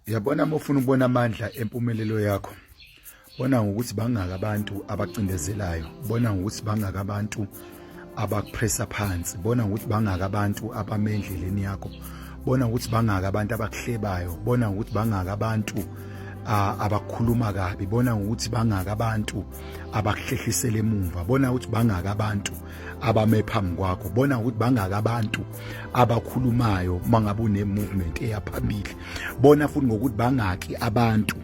yabona uma ufuna ukubona amandla empumelelo yakho bona ngokuthi bangaka abantu abacindezelayo bona ngokuthi bangaka abantu abakupressa phansi bona ngokuthi bangaka abantu abamendleleni yakho bona ukuthi bangaka abantu abakuhlebayo bona ukuthi bangaka abantu abakhuluma kabi bona ukuthi bangaka abantu abakuhlehlisela emuva bona ukuthi bangaka abantu abame phambi kwakho bona ukuthi bangaka abantu abakhulumayo mangabe une movement eyaphambili bona futhi ngokuthi bangaki abantu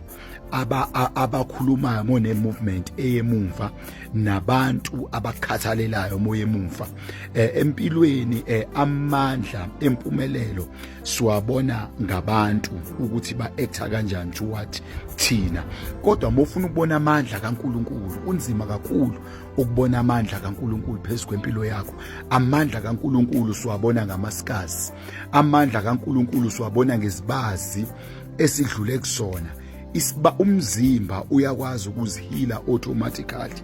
aba abakhulumayo mone movement eyemumva nabantu abakhathalelayo moyemumva eh, empilweni eh, amandla empumelelo siwabona ngabantu ukuthi ba actor kanjani to what thina kodwa mofuna ukubona amandla kaNkuluNkulu unzima kakhulu ukubona amandla kaNkuluNkulu phezu kwempilo yakho amandla kaNkuluNkulu siwabona ngamasikazi amandla kaNkuluNkulu siwabona ngezibazi esidlule kusona isiba umzimba uyakwazi ukuzihila automatically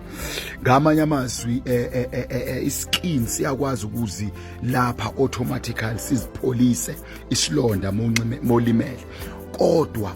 ngamanye amazwi eh, eh, eh, iskin siyakwazi ukuzi lapha automatically sizipholise isilonda molimele kodwa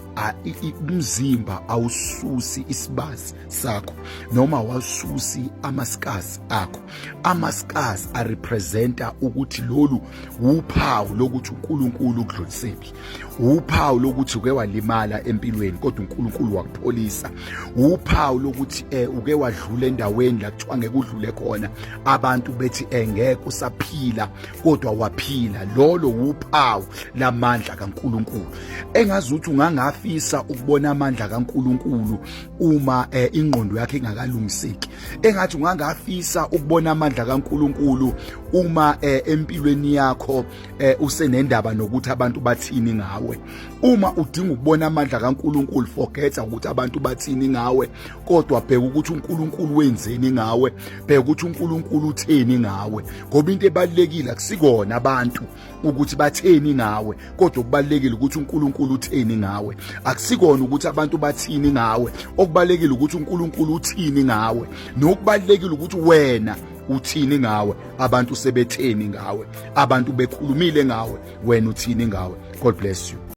umzimba awususi isibazi sakho noma wasusi amascars akho amascars arepresenta ukuthi lolu wuphawu lokuthi uNkulunkulu ukudlulisephi wuphawu lokuthi uke walimala empilweni kodwa uNkulunkulu wakupholisa wuphawu lokuthi eh uke wadlula endaweni la kuthiwa ngeke udlule khona abantu bethi eh ngeke usaphila kodwa waphila lolo wuphawu lamandla kaNkulunkulu engazi ukuthi ungangafisa ukubona amandla kaNkulunkulu uma eh, ingqondo yakhe ingakalungiseki engathi ungangafisa ukubona amandla kaNkuluNkulu uma eh, empilweni yakho eh, usenendaba nokuthi abantu bathini ngawe uma udinga ukubona amandla kaNkuluNkulu forget ukuthi abantu bathini ngawe kodwa bheka ukuthi uNkuluNkulu wenzeni ngawe bheka ukuthi uNkuluNkulu utheni ngawe ngoba into ebalekile akusikona abantu ukuthi batheni ngawe kodwa okubalekile ukuthi uNkulunkulu utheni ngawe akusikona ukuthi abantu bathini ngawe okubalekile ukuthi uNkulunkulu uthini ngawe nokubalekile ukuthi wena uthini ngawe abantu sebetheni ngawe abantu bekhulumile ngawe wena uthini ngawe god bless you